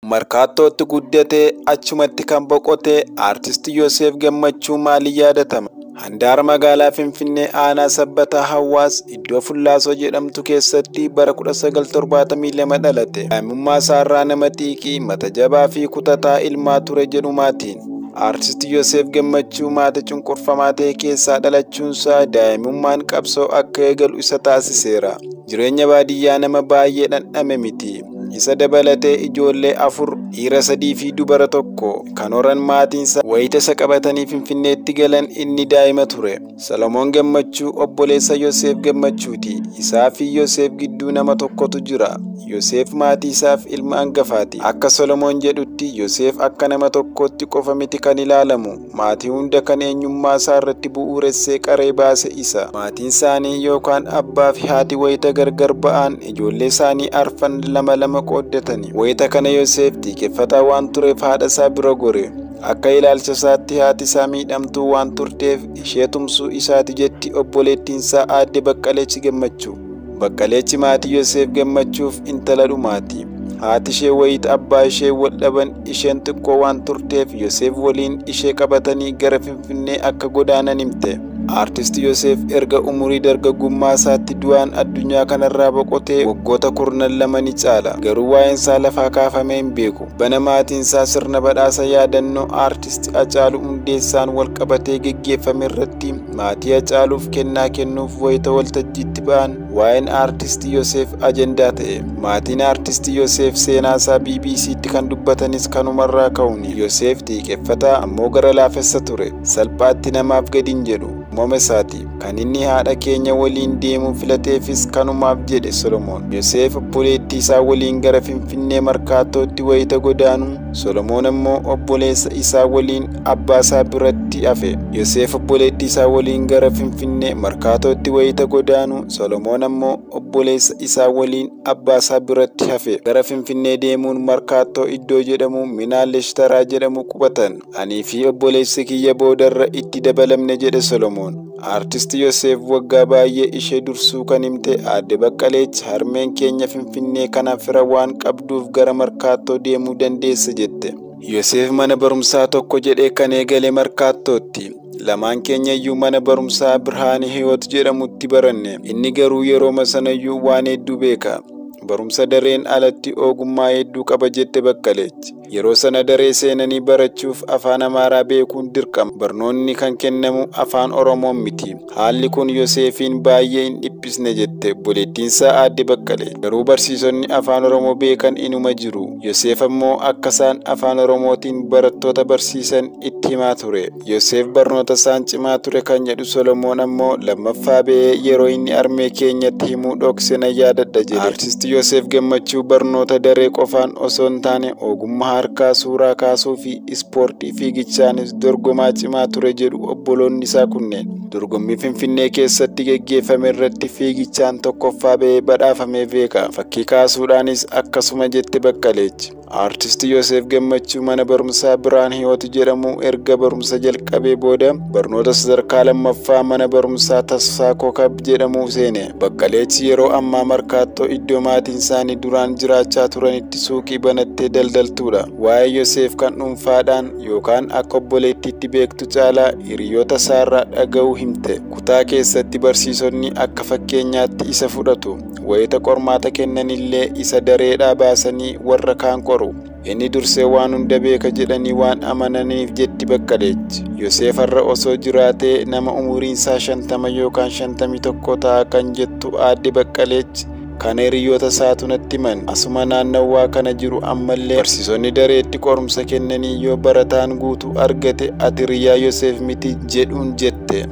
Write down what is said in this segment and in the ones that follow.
Markaattootti guddatee achumatti kan boqote Aartisti Yoseef Gammachuu maaliin yaadatama? Handaara magaalaa Finfinnee aanaa Sabbataa Hawaas iddoo Fullaasoo jedhamtu keessatti bara 1972 dhalate. Daa'imummaa isaarraa nama xiiqii, mata jabaa fi kutataa ilmaa ture jedhu maatiin. Aartisti Yoseef Gammachuu maata cunqurfamaa ta'e keessaa dhalachuunsaa daa'imummaan qabsoo akka eegalu isa taasiseera. Jireenya baadiyyaa nama baay'ee dhandhame miti. Isa dabalatee ijoollee afur dhiira sadii fi dubara tokko kan horan maatiinsa wayita isa qabatanii Finfinneetti galan inni daa'ima ture. Solomoon Gammachuu obboleessa Yoseef Gammachuuti. Isaa fi Yoseef gidduu nama tokkotu jira. Yoseef maatii isaaf ilma angafaati. Akka Solomoon jedhutti Yoseef akka nama tokkootti qofa miti kan ilaalamu. Maatii hunda kan eenyummaa isaa irratti bu'uuressee qaree baase isa. Maatiin isaanii yookaan abbaa fi haati wayita gargar ba'an ijoollee isaanii arfan lama lama qooddatani. Wayita kana Yoseef xiiqeffataa waan tureef haadha isaa bira gore. Akka ilaalcha isaatti haati isaa miidhamtuu waan turteef ishee tumsuu isaati jetti obboleettiin isaa aadde Baqqalech Gammachuu. Baqqaleechi maatii Yoseef gammachuuf intala dhumaati. Haati ishee wayita abbaa ishee wal dhaban isheen xiqqoo waan turteef Yoseef waliin ishee qabatanii gara Finfinnee akka godaanan himte. Aartist Yoseef erga umurii dargaggummaa isaatti du'aan addunyaa kanarraa boqotee waggoota kurnan lama ni caala. Garuu waa'een isaa lafaa kaafamee hin beeku. Tibbana maatiin isaa sirna badhaasa yaadannoo aartist Hacaaluu Hundeessaan wal qabatee geggeeffame irratti Maatii Hacaaluuf kennaa kennuuf wayita waltajjiitti ba'an waa'een aartisti Yoseef ajandaa ta'e. Maatiin aartisti Yoseef seenaasaa BBC'tti kan dubbatanis kanumarraa ka'uuni. Yoseef xiiqeffataa ammoo gara laafessa ture. Salphaatti namaaf gadi hin jedhu. Uumamesaati. Kan inni haadha keenya waliin deemuu filateefis kanumaaf jedhe Solomoon. Yoseef obboleettiisaa waliin gara Finfinnee Markaattootti wayita godaanu, Solomoon ammoo obboleessa isaa waliin abbaa isaa biratti hafe. Yoseef obboleettii isaa waliin gara Finfinnee Markaatootti wayita godaanu, Solomoon ammoo obboleessa isaa waliin abbaa isaa biratti hafe. Gara Finfinnee deemuun Markaattoo iddoo jedhamu Minaa Leshtaraa jedhamu qubatan. Anii fi obboleessi kiyya boodarra itti dabalamne jedhe Solomoon. Aartisti Yoseef waggaa baay'ee ishee dursuu kan himte aadde Baqqaleech harmeen keenya Finfinnee kana fira waan qabduuf gara Markaattoo deemuu dandeesse jette. Yoseef mana barumsaa tokko jedhee kan eegale Markaattootti. Lamaan keenya iyyuu mana barumsaa Birhaane Hiyoot jedhamutti baranne. Inni garuu yerooma sanayyuu waan hedduu beeka. Barumsa dareen alatti ogummaa hedduu qaba jette Baqqalech. Yeroo sana daree seenanii barachuuf afaan Amaaraa beekuun dirqama. Barnoonni kan kennamu afaan Oromoon miti. Haalli kun Yoseefiin baay'ee hin dhiphisne jette obboleettiinsaa aadde Baqqalee. Garuu barsiisonni afaan Oromoo beekan inuma jiru. Yoseef ammoo akka isaan afaan Oromootiin barattoota barsiisan itti himaa ture. Yoseef barnoota isaan cimaa ture kan jedhu Solomoon ammoo lammaffaa ba'ee yeroo inni armee keenyatti himuu dhokse nan yaadadha jedhe. Artisti Yoseef Gammachuu barnoota daree qofaan osoo hin taane ogummaa harkaa suuraa kaasuufi. ispoortii fiigichaanis dorgomaa cimaa ture jedhu obboloonni isaa kunneen. Dorgommii Finfinnee keessatti geggeeffame irratti fiigichaan tokkoffaa ba'ee badhaafamee beeka. Fakkii kaasuudhaanis akkasuma jette Baqqaleechi. Aartisti Yoseef Gammachuu mana barumsaa Birhaan Hiyoot jedhamu erga barumsa jalqabee booda barnoota sadarkaa lammaffaa mana barumsaa Tasfaa Kokab jedhamu seene. Baqqaleechi yeroo ammaa Markaattoo iddoo maatiin isaanii duraan jiraachaa turanitti suuqii banattee daldaltuudha. Waa'ee Yoseef kan dhuunfaadhaan yookaan akka obboleettiitti beektu caalaa hiriyoota isaarraa dhaga'uu himte. Kutaa keessatti barsiisonni akka fakkeenyaatti isa fudhatu. Wayita qormaata kennanillee isa dareedhaa baasanii warra kaan qoru. Inni dursee waan hunda beeka jedhanii waan amananiif jetti Baqqalech. Yoseef har'a osoo jiraatee nama umuriinsaa shantama yookaan shantamii tokko ta'a kan jettu aadde Baqqalech Kana hiriyoota isaatu natti himan. Asuma naannawwaa kana jiru ammallee barsiisonni dareetti qorumsa kennanii yoo barataan guutuu argate ati hiriyaa Yoseef miti jedhuun jette.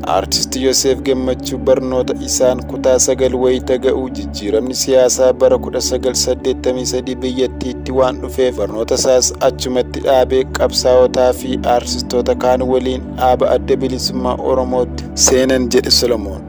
Artist Yoseef Gammachuu barnoota isaan kutaa sagal wayita ga'u jijjiiramni siyaasaa bara 1983 biyyattiitti waan dhufeef barnoota isaas achumatti dhaabee qabsaa'otaa fi artistoota kaan waliin dhaaba adda bilisummaa Oromootti seenan jedhe Solomoon.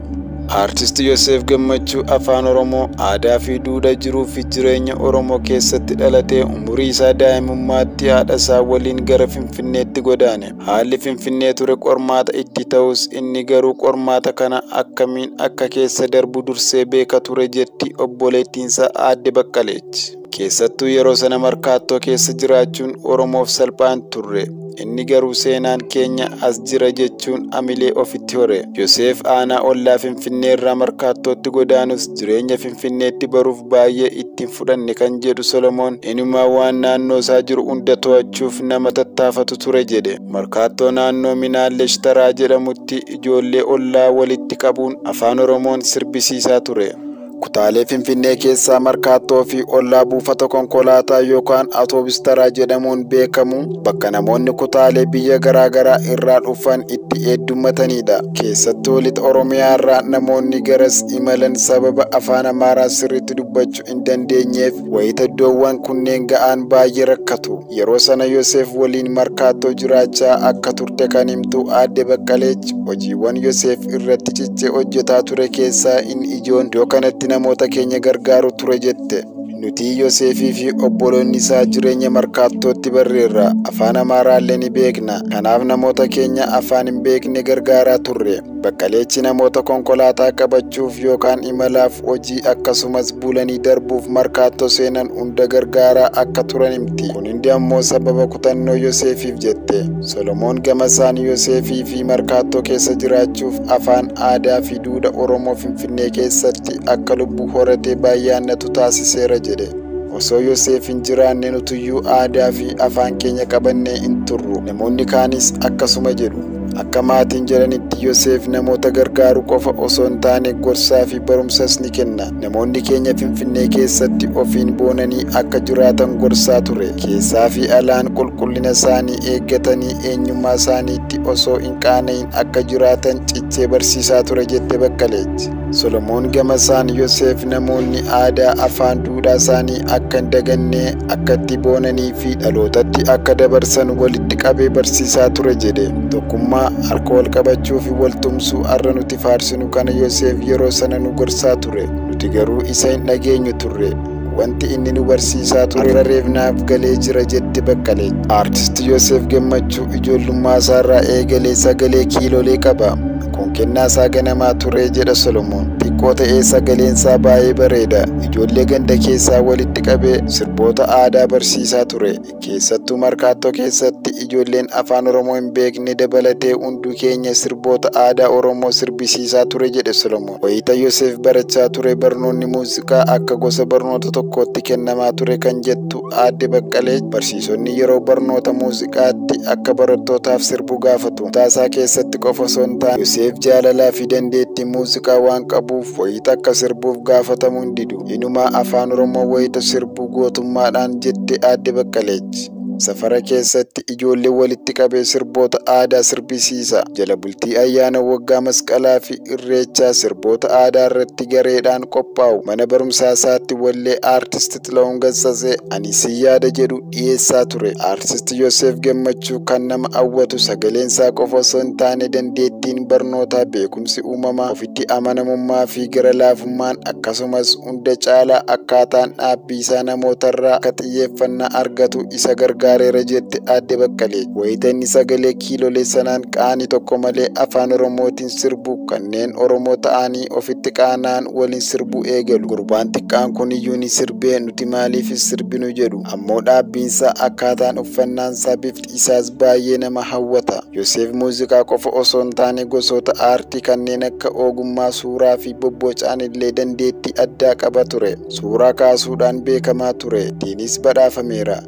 Aartisti Yoseef Gammachuu Afaan Oromoo aadaa fi duudha jiruu fi jireenya Oromoo keessatti dhalatee umurii isaa daa'imummaatti haadha isaa waliin gara Finfinneetti godaane. Haalli Finfinnee ture qormaata itti ta'us inni garuu qormaata kana akkamiin akka keessa darbu dursee beeka ture jetti obboleettiin isaa aadde Baqqaleechi. Keessattuu yeroo sana markaattoo keessa jiraachuun Oromoof salphaa hin turre. Inni garuu seenaan keenya as jira jechuun amilee ofitti hore. Yoseef aanaa ollaa Finfinnee irraa markaattootti godaanus jireenya Finfinneetti baruuf baay'ee itti hin fudhanne kan jedhu Solomoon inumaa waan naannoo isaa jiru hunda to'achuuf nama tattaafatu ture jedhe. Markaattoo naannoo Minaallesh Taraa jedhamutti ijoollee ollaa walitti qabuun afaan Oromoon sirbisiisaa ture. Kutaalee Finfinnee keessaa Markaattoo fi ollaa buufata konkolaataa yookaan Atoobis Taraa jedhamuun beekamu bakka namoonni kutaalee biyya garaagaraa irraa dhufan itti heddummatanidha. Keessattuu lixa Oromiyaa irraa namoonni garas imalan sababa afaan Amaaraa sirriitti dubbachuu hin dandeenyeef wayita iddoowwan kunneen ga'an baay'ee rakkatu. Yeroo sana Yoseef waliin markaattoo jiraachaa akka turte kan himtu aadde Baqqaleech hojiiwwan Yoseef irratti cichee hojjetaa ture keessaa inni ijoon iddoo kanatti namoota keenya gargaaru ture jette. Nuti Yoseefii fi obboloonni isaa jireenya markaattootti barreerra. Afaan Amaaraallee ni beekna. Kanaaf namoota keenya afaan hin beekne gargaaraa turre. Baqqaleechi namoota konkolaataa qabachuuf yookaan imalaaf hojii akkasumas bulanii darbuuf markaattoo seenan hunda gargaaraa akka turan himti. Kun hundi ammoo sababa kutannoo Yoseefiif jette. Solomoon gamasaan Yoseefii fi markaattoo keessa jiraachuuf afaan, aadaa fi duudha Oromoo Finfinnee keessatti akka lubbu horatee baay'aannatu taasiseera jedhe. Osoo Yoseef hin jiraanne nutuyyuu aadaa fi afaan keenya qabannee hin turru. Namoonni kaanis akkasuma jedhu. Akka maatiin jedhanitti Yoseef namoota gargaaru qofa osoo hin taane gorsaa fi barumsas ni kenna. Namoonni keenya Finfinnee keessatti ofiin boonanii akka jiraatan gorsaa ture. Keessaa fi alaan qulqullina isaanii eeggatanii eenyummaa isaaniitti osoo hin qaana'in akka jiraatan cichee barsiisaa ture jette Baqqaleechi. Solomoon gamasaan Yoseef namoonni aadaa afaan duudhaa isaanii akka hin daganne akkatti boonanii fi dhalootatti akka dabarsan walitti qabee barsiisaa ture jedhe. Tokkummaa, harka wal qabachuu fi wal tumsuu har'a nuti faarsinu kana Yoseef yeroo sana nu gorsaa ture. Nuti garuu isa hin dhageenyu turre. Wanti inni nu barsiisaa ture irra reefnaaf galee jira jette Baqqalee. Artist Yoseef Gammachuu ijoollummaa isaarraa eegalee sagalee kiilolee qaba. Kun kennaa isaa ganamaa ture jedha Solomoon. Xiqqoo ta'ee sagaleen isaa baay'ee bareeda. Ijoollee ganda keessaa walitti qabee sirboota aadaa barsiisaa ture. Keessattuu Markaattoo keessatti ijoolleen Afaan Oromoo hin beekne dabalatee hunduu keenya sirboota aadaa Oromoo sirbisiisaa ture jedhe Solomoon. Wayita Yoseef barachaa ture barnoonni muuziqaa akka gosa barnoota tokkootti kennamaa ture kan jettu aadde Baqqalee barsiisonni yeroo barnoota muuziqaatti akka barattootaaf sirbu gaafatu. Taasaa keessatti qofa osoo hin taane Yoseef jaalalaa fi dandeettii muuziqaa waan qabuuf wayita akka sirbuuf gaafatamu hin didu. Inumaa Afaan Oromoo wayita sirbu gootummaadhaan jette Aadde Baqqalech. Safara keessatti ijoollee walitti qabee sirboota aadaa sirbisiisa. Jala bultii ayyaana waggaa masqalaa fi irreechaa sirboota aadaa irratti gareedhaan qophaa'u. Mana barumsaa isaatti wallee Aartist Xila'uun Gassasee Ani si yaada jedhu dhiyeessaa ture. Artist Yoseef Gammachuu kan nama hawwatu sagaleen isaa qofa osoo hin taane dandeettiin barnootaa, beekumsi uumamaa, ofitti amanamummaa fi gara laafummaan akkasumas hunda caalaa akkaataan dhaabbii isaa namootarraa akka xiyyeeffannaa argatu isa gargaareera jette Aadde Baqqalee. Wayita inni sagalee kiilolee sanaan qaanii tokko malee afaan Oromootiin sirbu kanneen Oromoo ta'anii ofitti qaana'an waliin sirbuu eegalu. Gurbaan xiqqaan kuniyyuu ni sirbee Nuti maaliif hin sirbinu jedhu. Ammoo dhaabbiinsaa akkaataan uffannaansaa bifti isaas baay'ee nama hawwata. Yoseef muuziqaa qofa osoo hin taane gosoota aartii kanneen akka ogummaa suuraa fi bobbocaan illee dandeettii addaa qaba ture. Suuraa kaasuudhaan beekamaa ture. Ittiinis badhaafameera.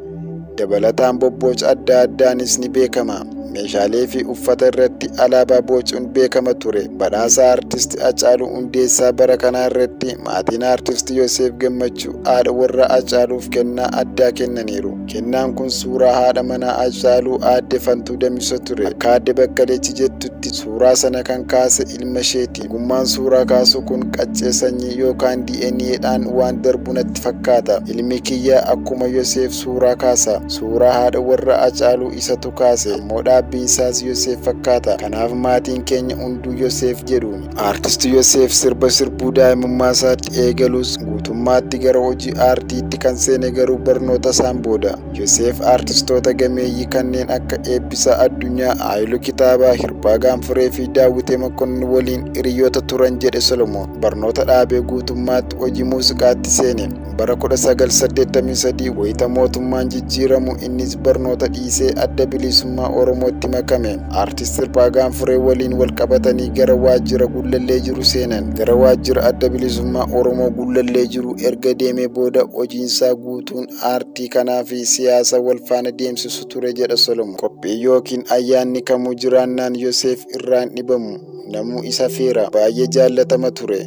Dabalataan bobbooca adda addaanis ni beekama. Meeshaalee fi uffata irratti alaabaa boocuun beekama ture. Badhaasa Artisti Hacaaluu Hundeessaa bara kanaa irratti maatiin Artisti Yoseef Gammachuu haadha warraa Hacaaluuf kennaa addaa kennaniiru. Kennaan kun suuraa haadha manaa Hacaaluu aadde Fantuu Damisoo ture. Akka aadde Bakkaleechi jettutti suuraa sana kan kaase ilma isheeti. Ogummaan suuraa kaasuu kun qaccee sanyii yookaan DNA dhaan waan darbu natti fakkaata. Ilmi kiyya akkuma Yoseef suuraa kaasa. Suuraa haadha warra Acaaluu isatu kaase. Ammoo dhaabbiin isaas Yoseef fakkaata. Kanaaf maatiin keenya hunduu Yoseef jedhu. Aartisti Yoseef sirba sirbuu daa'imummaa isaatti eegalus guutummaatti gara hojii aartiitti kan seene garuu barnoota isaan booda. Yoseef aartistoota gameeyyii kanneen akka Eebbisaa Addunyaa, Haayiluu Kitaabaa, Hirphaa Gaanfuree fi Daawwitee Mokonnin waliin hiriyoota turan jedhe Solomoon. Barnoota dhaabee guutummaatti hojii muuziqaatti seene. Bara 1983 wayita mootummaan jijjiiramu innis barnoota dhiisee adda bilisummaa Oromootti makame. Aartist Hirphaa Gaanfuree waliin wal qabatanii gara waajjira Gullallee jiru seenan. Gara waajjira adda bilisummaa Oromoo Gullallee jiru erga deemee booda hojiinsaa guutuun aartii kanaa fi siyaasa wal faana deemsisu ture jedha Solomoon. Qophii yookiin ayyaanni kamuu jiraannaan Yoseef irraa hin dhibamu. Namuu isa feera. Baay'ee jaallatama ture.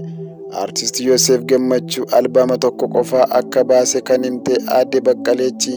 Aartist Yoseef Gammachuu albaama tokko qofaa akka baase kan himte aadde Baqqaleechi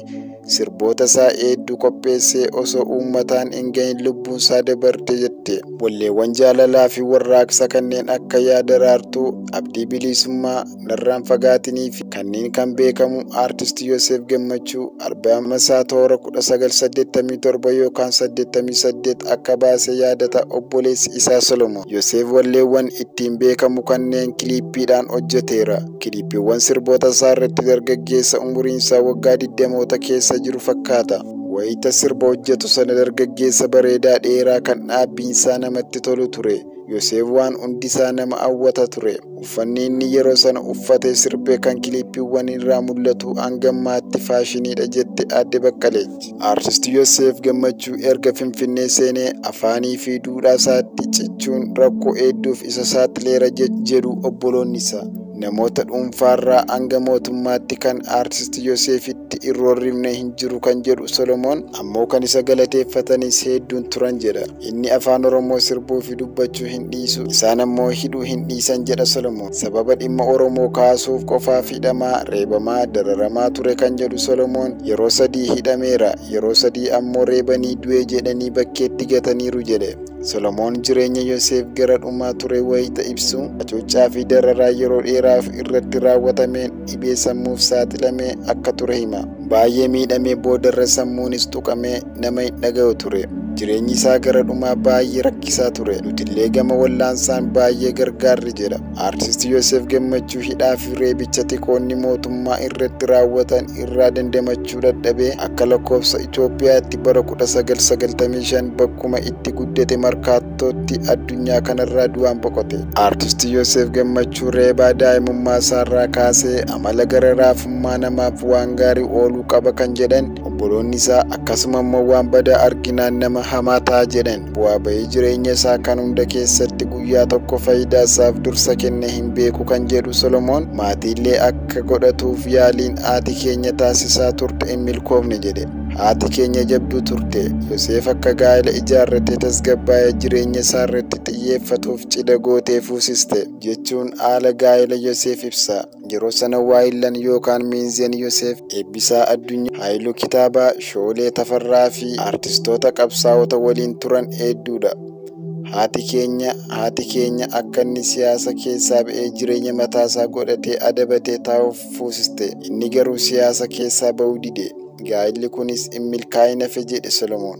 sirboota isaa hedduu qopheessee osoo uummataan hin gahin lubbuun isaa dabarte jette. Walleewwan jaalalaa fi warraaqsa kanneen akka yaa daraartuu, abdii bilisummaa, narraan fagaatinii fi kanneen kan beekamu aartist Yoseef Gammachuu albaama isaa toora 1987 yookaan 88 akka baase yaadata obboleessi isaa Solomoon. Yoseef walleewwan ittiin beekamu kanneen kiliippiidhaan hojjeteera. Kiliippiiwwan sirboota isaa irratti dargaggeessa umuriin isaa waggaa 20moota keessa jiru fakkaata. Wayita sirba hojjetu sana dargaggeessa bareedaa dheeraa kan dhaabbiin isaa namatti tolu ture. Yoseef waan hundi isaa nama hawwata ture. Uffanni inni yeroo sana uffatee sirbee kan kiliippiiwwan irraa mul'atu hanga ammaatti faashiniidha jette Aadde Baqqaleech. Artist Yoseef Gammachuu erga Finfinnee seenee afaanii fi duudhaa isaatti cichuun rakkoo hedduuf isa saaxileera jedhu obboloonni isaa. Namoota dhuunfaarraa hanga mootummaatti kan Artist Yoseefitti hin roorrifne hin jiru kan jedhu Solomoon ammoo kan isa galateeffatanis hedduun turan jedha. Inni afaan Oromoo sirbuu fi dubbachuu hin dhiisu, isaan ammoo hidhuu hin dhiisan jedha Solomoon. Sababa dhimma Oromoo kaasuuf qofaaf hidhamaa, reebamaa, dararamaa ture kan jedhu Solomoon, yeroo sadii hidhameera, yeroo sadii ammoo reebanii du'e jedhanii bakkeetti gataniiru jedhe. Solomoon jireenya Yoseef gara dhumaa ture wayita ibsu, hacuuccaa fi dararaa yeroo dheeraaf irratti raawwatameen dhibee sammuuf saaxilamee akka ture hima. Baay'ee miidhamee boodarra sammuunis tuqamee, nama hin dhagayu ture. Jireenyi isaa gara dhumaa baay'ee rakkisaa ture. Nutillee gama wallaansaan baay'ee gargaarre jedha. Aartist Yoseef Gammachuu hidhaa fi reebicha tikoonni mootummaa irratti raawwatan irraa dandamachuu dadhabee akka lakkoofsa Itoophiyaatti bara 1995 bakkuma itti guddate markaattootti addunyaa kanarraa du'aan boqote. Aartist Yoseef Gammachuu reebaa daa'imummaa isaarraa kaasee amala gara raafummaa namaaf waan gaarii ooluu qaba kan jedhan obboloonni isaa akkasuma immoo waan badaa arginaan nama hamaa ta'a jedhan bu'aa ba'ii jireenya isaa kan hunda keessatti guyyaa tokko faayidaa isaaf dursa kenne hin beeku kan jedhu solomoon maatiillee akka godhatuuf yaaliin haati keenya taasisaa turte hin milkoofne jedhe haati keenya jabduu turte yoseef akka gaa'ela ijaarratee tasgabbaa'ee jireenya isaa irratti xiyyeeffatuuf cidha gootee fuusiste jechuun haala gaa'ela yoseef ibsa Yeroo sana waayillan yookaan Miinzeen Yoseef, Eebbisaa Addunyaa, Haayiluu Kitaabaa, Shoolee Tafarraa fi artistoota qabsaa'ota waliin turan heedduudha. Haati keenya, haati keenya akka inni siyaasa keessaa ba'ee jireenya mataasaa godhatee adabatee taa'uuf fuusiste. Inni garuu siyaasa keessaa ba'uu dide. Gaa'illi kunis hin milkaa'in hafe jedhe Solomoon.